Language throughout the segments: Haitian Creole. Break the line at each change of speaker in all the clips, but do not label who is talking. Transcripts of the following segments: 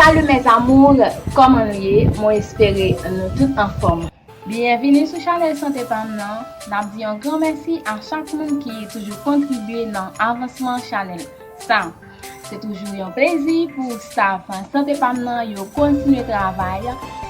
Salut mes amours Koman nou ye mwen espere nou tout anfom. Byenvini sou chanèl sante pam nan, nap di yon gran mèsi a chak moun ki toujou kontribye nan avansman chanèl sa. Se toujou yon plezi pou staff Sante pa m nan yo kontinye travay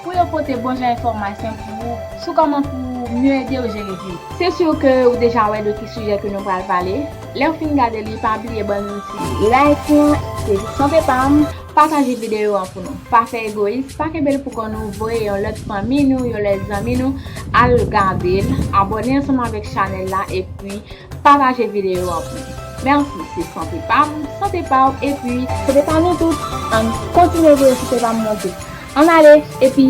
pou yo pote bon jan enfòmasyon pou ou sou kòman pou ou mye ede ou jere vi w. Se sur ke ou deja wè de ki sijè ke nou pral pale. Lè w fin gade li pa bliye ban nou ti like lan ke di Sante pa m pataje videyo an pou nou. Pa fè egoyis, pa kenbe l pou kò nou voye yon lòt fanmi nou, yon lòt zanmi nou al gade l, abòne ansanm avèk chanèl la epi. Pataje video an pou li. Merci se sante pam, sante paw epi. Sante pa nou tout. Ann kontinye voye sante pam mwen tou. Ann ale epi.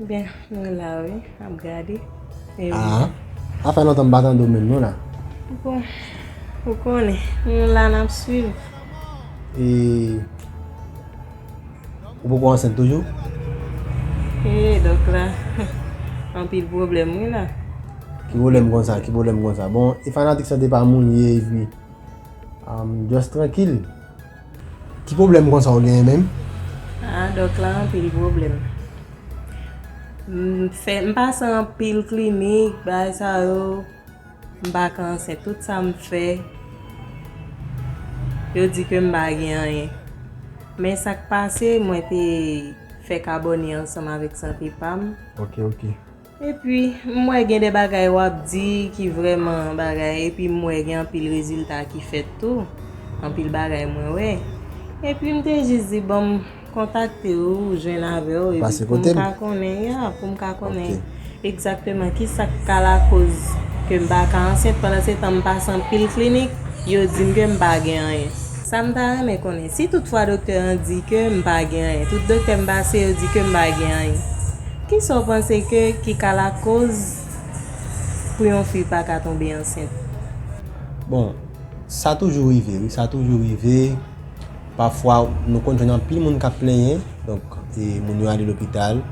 Ebyen
mwen la wi ap gade. Aa
sa fè lontan m pa tande w menm non la. Bon
ou konnen nou la nap swiv. E
ou poko ansent toujou?
Ee dòk la anpil pwoblèm wi la. Ki pwoblèm
konsa ki pwoblèm konsa bon e fanatik sante pa moun ye epi just trankil. Ki pwoblèm konsa ou genyen menm? Ah dòk
la anpil pwoblèm. M pase anpil klinik bagay sa yo, m pa ka ansent. Tout sa m fè, yo di ke m pa gen anyen. Men sa k pase, mwen te fèk abòne ansanm avèk Sante pa m. Ok, ok.
Epi
m wè gen de bagay wap di ki vrèman bagay epi m wè gen anpil rezilta ki fèt tou, anpil bagay mwen wè. Epi m te jis di banm kontakte w, jwenn avè w epi pou m ka konnen, ya, pou m ka konnen egzakteman ki sa k ka lakoz ke m pa ka ansent. Pandansetan m pase anpil klinik, yo di m ke m pa gen anyen. Sa m ta renmen konnen, si tout fwa doktè an di ke m pa gen anyen, tout doktè m pase yo di ke m pa gen anyen. Kisa w panse ke ki ka lakoz pou yon fi pa ka tonbe ansent? Bon,
sa toujou rive wi, sa toujou rive, pafwa nou konn jwenn anpil moun kap plenyen, donk moun yo ale lopital,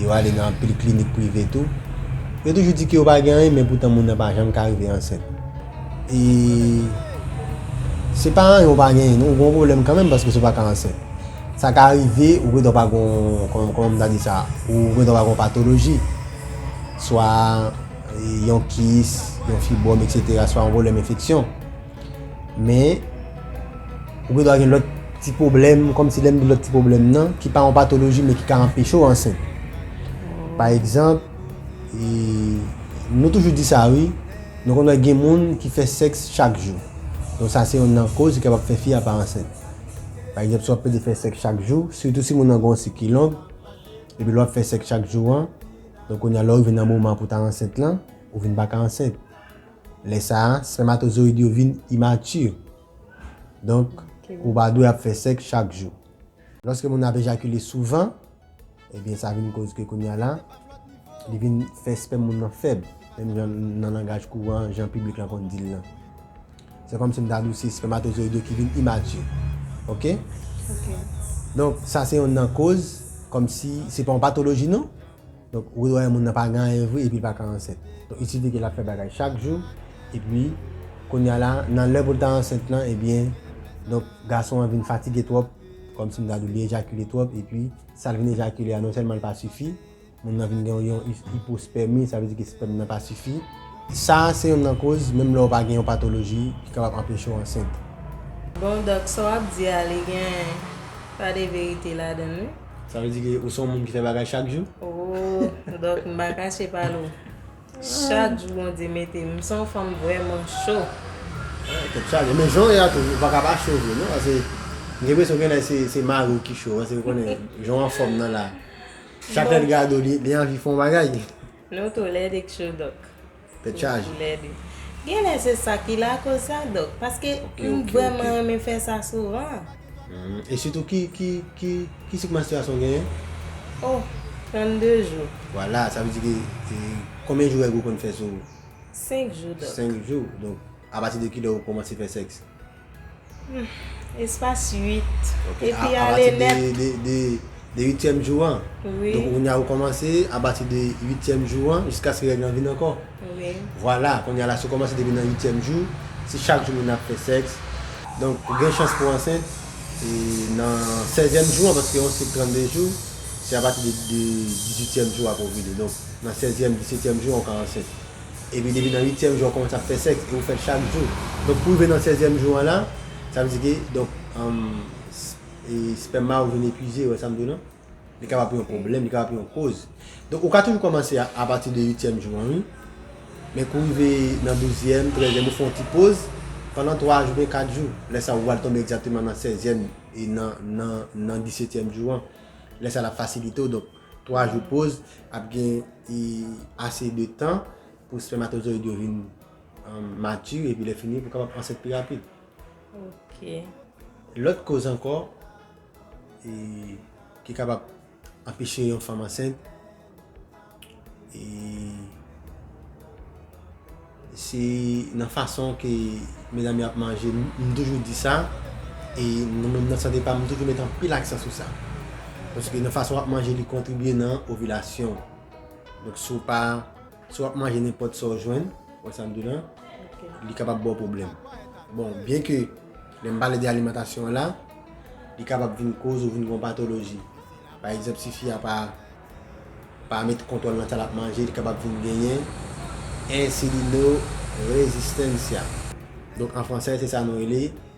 yo ale nan anpil klinik prive tou, yo toujou di ke yo pa gen anyen men poutan moun nan pa janm ka rive ansent. E se pa anyen ou pa genyen non, ou gen yon pwoblèm kanmenm paske si w pa ka ansent. Sa ka rive ou gentan pa gen yon, kòman m ta di sa, ou gentan pa gen yon patoloji, swa yon kis, yon fibwòm eksetera, swa yon pwoblèm enfeksyon. Men, ou gentan gen lòt ti pwoblèm, kòm si lè m di lòt ti pwoblèm nan, ki pa yon patoloji men ki ka anpeche w ansent. Pa egzanp, nou toujou di sa wi, nou konn wè gen moun ki fè sèks chak jou. Donk sa se yonn nan koz ki kapab fè fi a pa ansent. Pa egzanp, si w ap pede fè sèks chak jou, sitou si moun nan gen yon sik ki long, epi lè w ap fè sèks chak jou an, donk kounye a lè w rive nan moman pou w ta ansent lan, ou vin pa ka ansent. Lè sa a, spèmatozoyid yo vin imati. Donk, ou pa dwe ap fè sèks chak jou. Lòske moun nan ap ejakile souvan. Ebyen sa vin koz ke kounya la li vin fè spèm moun nan fèb menm jan nan langaj kouran jan piblik la konn dil lan. Se kòmsi m ta di w se spèmatozoyid yo ki vin imature. Ok? Ok.
Donk
sa se youn nan koz kòmsi se pa yon patoloji non. Donk ou wè moun nan pa gen anyen vre epi l pa ka ansent. Donk il sifi ke l ap fè bagay chak jou epi kounya la nan lè pou l ta ansent lan ebyen donk gason an vin fatige twòp kòm si m ta di w li ejakile twòp epi sa l vin ejakile a non sèlman l pa sifi, moun nan vin gen yon ipospèmi, sa vle di ke spèm nan pa sifi. Sa a se yonn nan koz, menm lè w pa gen yon patoloji, ki kapab anpeche w ansent. Bon
Doc, sa w ap di a li gen pa de verite ladan l wi. Sa vle di ke ou
se yon moun ki fè bagay chak jou? Ooh
Doc m pa kache pa l ou. Chak jou bondye mete m son fanm vreman choo. Tèt
chaje men jan w ye a tou ou paka pa cho vre non pase m gen presyon gen lè se mari w ki cho pase ou konnen jan w anfòm nan la chak lè l gade w li
anvi fè yon
bagay. Nou tou lè
2 k cho dòk. Tèt chaje.
Gen lè
se sa ki lakoz sa dòk paske m vreman renmen
fè sa
souvan. E
sitou ki ki sik manstriyasyon w genyen? Oh
32 jou. Vwala sa vle di ke
konbyen jou règ ou konn fè sou ou? 5 jou
dòk. 5 jou donk
apati de kilè ou kòmanse fè sèks? Espas
8 epi ale
nèt.
Apati de
de
de 8 tièm jou
an? Wi. Donk kounya ou
kòmanse
apati de 8 tièm jou an jiskaske règ lan vin ankò? Wi. Vwala,
kounye a la
si w kòmanse depi nan uityèm jou, si chak jou moun ap fè sèks, donk ou gen chans pou w ansent e nan sèzyèm jou an, paske yon sik 32 jou, se apati de dizuityèm jou w ap ovile, donk nan sèzyèm, disetyèm jou an ou ka ansent. Epi depi nan uityèm jou an ou kòmanse ap fè sèks e ou fè l chak jou, donk pou rive nan sèzyèm jou an la, sa vle di ke donk, espèma ou vin epwize, ou wè sa m di w non? Li kapab pou yon pwoblèm, li kapab pou yon koz. Donk ou ka toujou kòmanse a pati de uityèm jou an wi. Men kou rive nan douzyèm, trèzyèm ou fè yon ti poz pandan 3 jou oubyen 4 jou. Lè sa ou pral tonbe egzakteman nan sèzyèm e nan disetyèm jou an. Lè sa l ap fasilite w. Donk 3 jou poz ap gen ase de tan pou spèmatozoyid yo vin mati epi lè fini pou w kapab ansent pi rapid. Lòt koz ankò. e ki kapab anpeche yon fanm ansent e se nan fason ke medam yo ap manje m toujou di sa e mwen menm nan sante pam m toujou met anpil aksan sou sa paske nan fason wap manje li kontribye nan ovilasyon donk si w pa Si w ap manje nenpòt sa w jwenn, wè sa m di w la, li kapab ba w pwoblèm. Bon, byen ke lè m pale de alimantasyon an la, li kapab vin koz ou vin gen yon patoloji. Pa egzanp, si fi a pa met kontwòl nan sa l ap manje, li kapab vin genyen ensilinorezistansia. Donk an fransè se sa nou rele.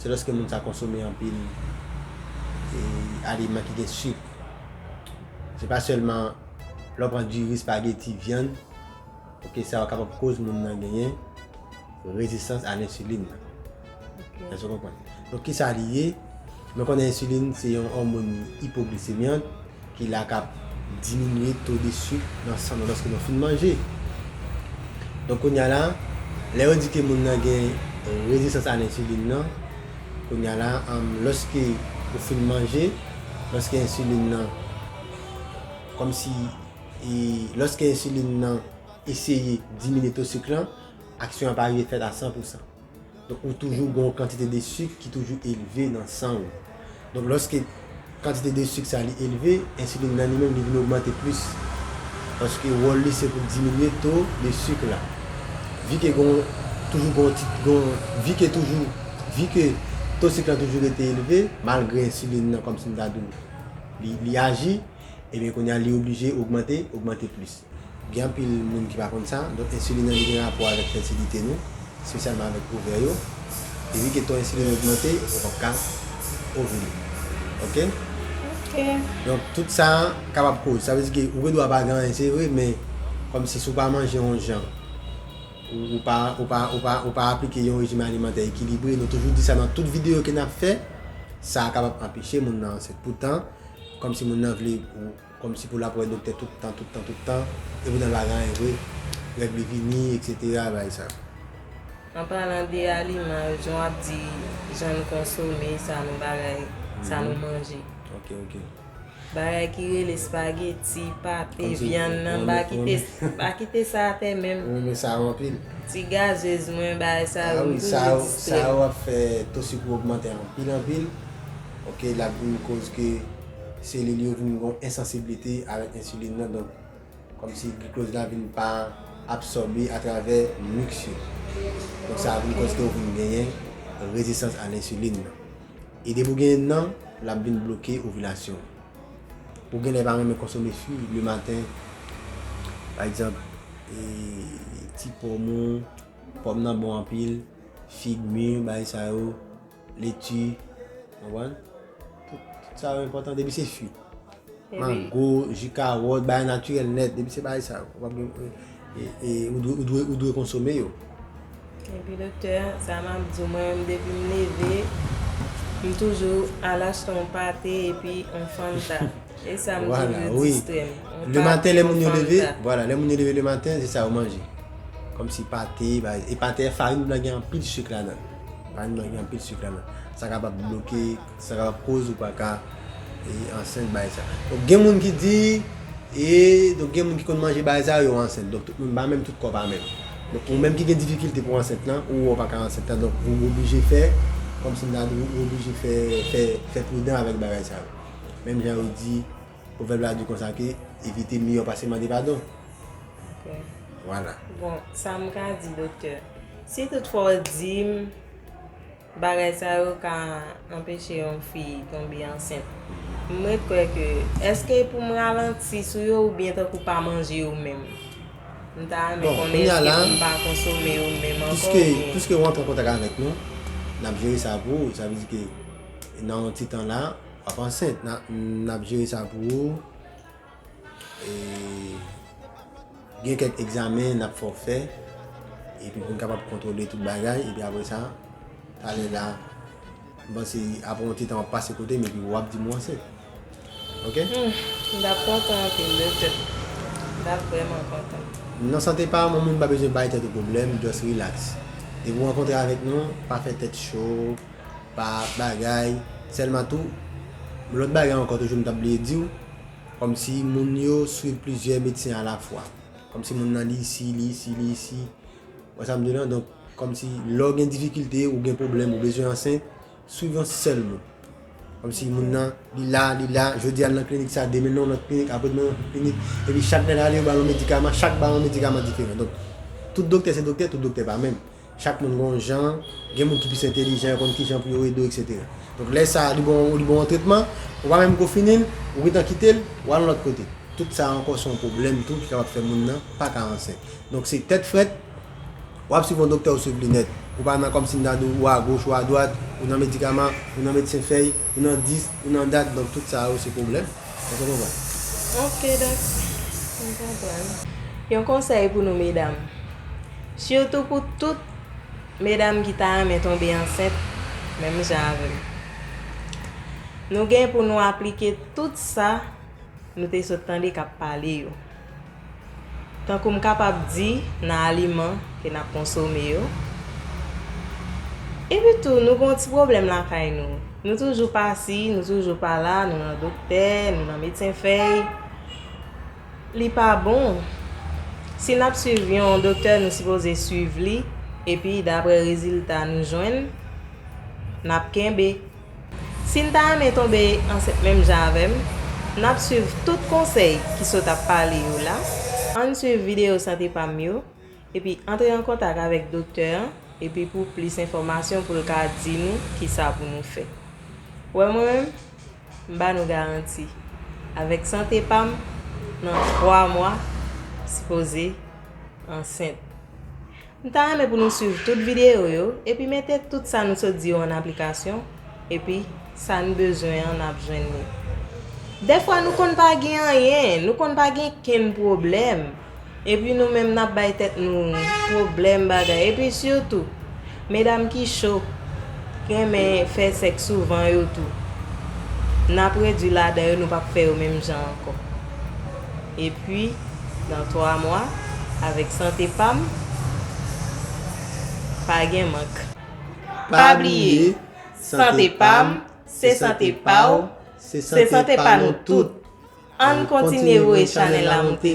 Se lèske moun sa konsome anpil aliman ki gen sik. Se pa sèlman lè w pran diri, spageti, vyann, ok sa yo kapab koz moun nan genyen rezistans a lensilin nan. Èske w konprann? Donk kisa li ye? Nou konnen ensilin se yon òmon ipoglisemiant Ki la kap diminye to de suk nan san nou loske nou fin manje. Donk kounya la, lè yo di ke moun nan gen rezistans a lensilin nan, kounya la loske ou fin manje, loske ensilin nan, kom si, loske ensilin nan eseye diminye to suk lan, aksyon an pa rive fèt a 100 pousan. Donk ou toujou gen yon kantite de sik ki toujou elve nan san ou. Donk lòske kantite de sik sa li elve, ensilin nan li menm li vin ogmante plis. Paske wòl li se pou diminye to de sik la. Vi ke gen yon, toujou gen yon ti, gen yon, vi ke toujou, vi ke to sik la toujou rete elve, malgre ensilin nan kòm si m ta di w li aji, ebyen kounye a li oblije ogmante, ogmante plis. Gen anpil moun ki pa konn sa, donk ensilin nan li gen rapò avèk fètilite nou, espesyalman avèk ovè yo. Depi ke ton ensilin ogmante, ou pap ka ovile. Ok? Ok.
Donk tout
sa kapab koz. Sa vle di ke ou gen dwa pa gen anyen se vre, men kòmsi si ou pa manje yon jan, ou pa, ou pa, ou pa, ou pa aplike yon rejim alimantè ekilibre, nou toujou di sa nan tout videyo ke nap fè, sa kapab anpeche moun nan ansent. Poutan, kòmsi moun nan vle. Komsi pou lap wè doktè tout tan tout tan tout tan epi nan lagany vre règ li vini etc bay sa. An
palan de aliman yo jan w ap di jan nou konsome sa nou bagay sa nou manje Ok ok.
Bagay
ki rele spageti, pate, vyann nan ba kite ba kite sa atè menm. Mwen renmen sa yo anpil.
Ti gazez
mwen bagay sa yo m toujou distrèm.
Sa yo ap fè to sik ou ogmante anpil anpil ok lap vin koz ke. Selil yo vin gon ensansiblite avèk ensilin nan donk kòmsi glikloz la vin pa absòbe atravè misk yo. Donk sa vin kòz ke ou vin genyen rezistans a lensilin nan. E depi ou genyen l nan, lap vin bloke ovilasyon ou. Ou genlè pa renmen konsome fwi le maten, pa egzanp, ti pòm ou, pòm nan bon anpil, fig, mi, bagay sa yo. Leti, konprann? Tout sa yo enpòtan depi se fwi. Mango, ji kawòt, bagay natirèl nèt, depi se bagay sa yo. Ou pap gen pou, e ou dwe, ou dwe konsome yo. Epi
doktè, sa m ap di w, mwen menm depi m leve, m toujou al achte yon pate epi yon fanta. E sa m di yo distrè m. Yon pate, yon fanta. Vwala,
wi. Le maten lè moun yo leve, vwala, lè moun yo leve le maten, se sa yo manje. Kòmsi pate, bagay. E pate farin blan gen anpil sik ladan l. Bann manke anpil suk la nan. Sa kapab bloke, sa kapab koz ou pa ka ansent bay sa. Donk gen moun ki di, e donk gen moun ki konn manje bagay sa yo, yo ansent. Donk tout moun pa menm, tout kò pa menm. Donk ou menm ki gen difikilte pou ansent lan, ou wè ou pa ka ansent lan, donk ou oblije fè, kòm si m ta di ou oblije fè, fè, fè pridan avèk bagay sa yo. Menm jan yo di. Pwovèb la di konsa ke evite miyò pase mande padon.
Ok. Vwala.
Bon, sa m
ka di doktè, si tout fwa w di m bagay sa yo ka anpeche yon fi tonbe ansent, m ret kwè ke èske e pou m ralanti sou yo oubyen tankou pa manje yo menm? M ta renmen konnen èske Bon, kounya la, pou m pa konsome yo menm ankò piske, oubyen? piske ou antre an kontak
avèk nou, n ap jere sa pou ou. Sa vle di ke nan yon ti tan la. Wap ansent nap jere sa pou ou e gen kèk egzamen nap fè w fè epi pou n kapab kontwole tout bagay epi apre sa talè la m panse apre yon ti tan wap pase kote m epi wap di m ou ansent ok. M tap
kontan anpil doktè m tap vrèman kontan. Nan sante pa
moun pa bezwen bay tèt ou pwoblèm just relax depi w rankontre avèk nou pa fè tèt cho. pa bagay selman tou m lot bagay anko toujou m tap bliye diw komsi moun yo swiv plizyè medsen a la fwa komsi moun nan li isi li isi li isi ou wè sam di w la donk komsi lè w gen difikilte ou gen pwoblèm ou bezwen ansent swiv yon sèl moun komsi moun nan li la li la jodi al nan klinik sa demen nan lot klinik apre demen nan lot klinik epi chak lèl ale yo bal yon medikaman chak bay yon medikaman diferan donk tout doktè se doktè tout doktè pa menm. Chak moun gen yon jan, gen moun ki plis entelijan, yo konn ki jan pou yo ede w eksetera. Donk lè sa li ba w yon tretman, ou pa menm ko fini l, ou gen tan kite l, ou al yon lòt kote. Tout sa ankò se yon pwoblèm tou ki kapab fè moun nan pa ka ansent. Donk se tèt frèt, w ap swiv yon doktè ou swiv linèt. Ou pa nan kòm si m ta di w ou agoch ou adwat, ou nan medikaman, ou nan medsen fèy, ou nan dis, ou nan dat, donk tout sa yo se pwoblèm. Eske w konprann?
Ok dòk, m konprann. Yon konsèy pou nou medam, sitou pou tout medam ki ta renmen tonbe ansent menm jan avè m. Nou gen pou nou aplike tout sa nou te sot tande k ap pale yo. Tankou m kapab di, nan aliman ke n ap konsome yo. Epi tou, nou gen yon ti pwoblèm lakay nou. Nou toujou pasi, nou toujou pala, nou nan doktè, nou nan medsen fèy. Li pa bon. Si n ap swiv yon doktè, nou sipoze swiv li, epi dapre rezilta nou jwenn, n ap kenbe. Sin ta renmen tonbe ansent menm jan avèm nap swiv tout konsèy ki sot ap pale yo la ann swiv video sante pam yo epi antre an kontak avèk doktè an epi pou plis enfòmasyon poul ka di nou kisa pou nou fè wè mwen menm m ba nou garanti avèk sante pam nan 3 mwa m sipoze ansent M ta renmen pou nou swiv tout videyo yo epi mete tout sa nou sot di yo an aplikasyon epi sa n bezwen an nap jwenn li. Dèfwa nou konn pa gen anyen, nou konn pa gen kenn pwoblèm epi nou menm nap bay tèt nou pwoblèm bagay epi sitou medam ki cho, k renmen fè sèks souvan yo tou nap redwi ladan yo nou pap fè yo menm jan ankò. epi nan 3 mwa avèk sante pam pa gen mank. Pa bliye sante pam se sante paw se sante pa nou tout ann kontinye voye chanèl la moute.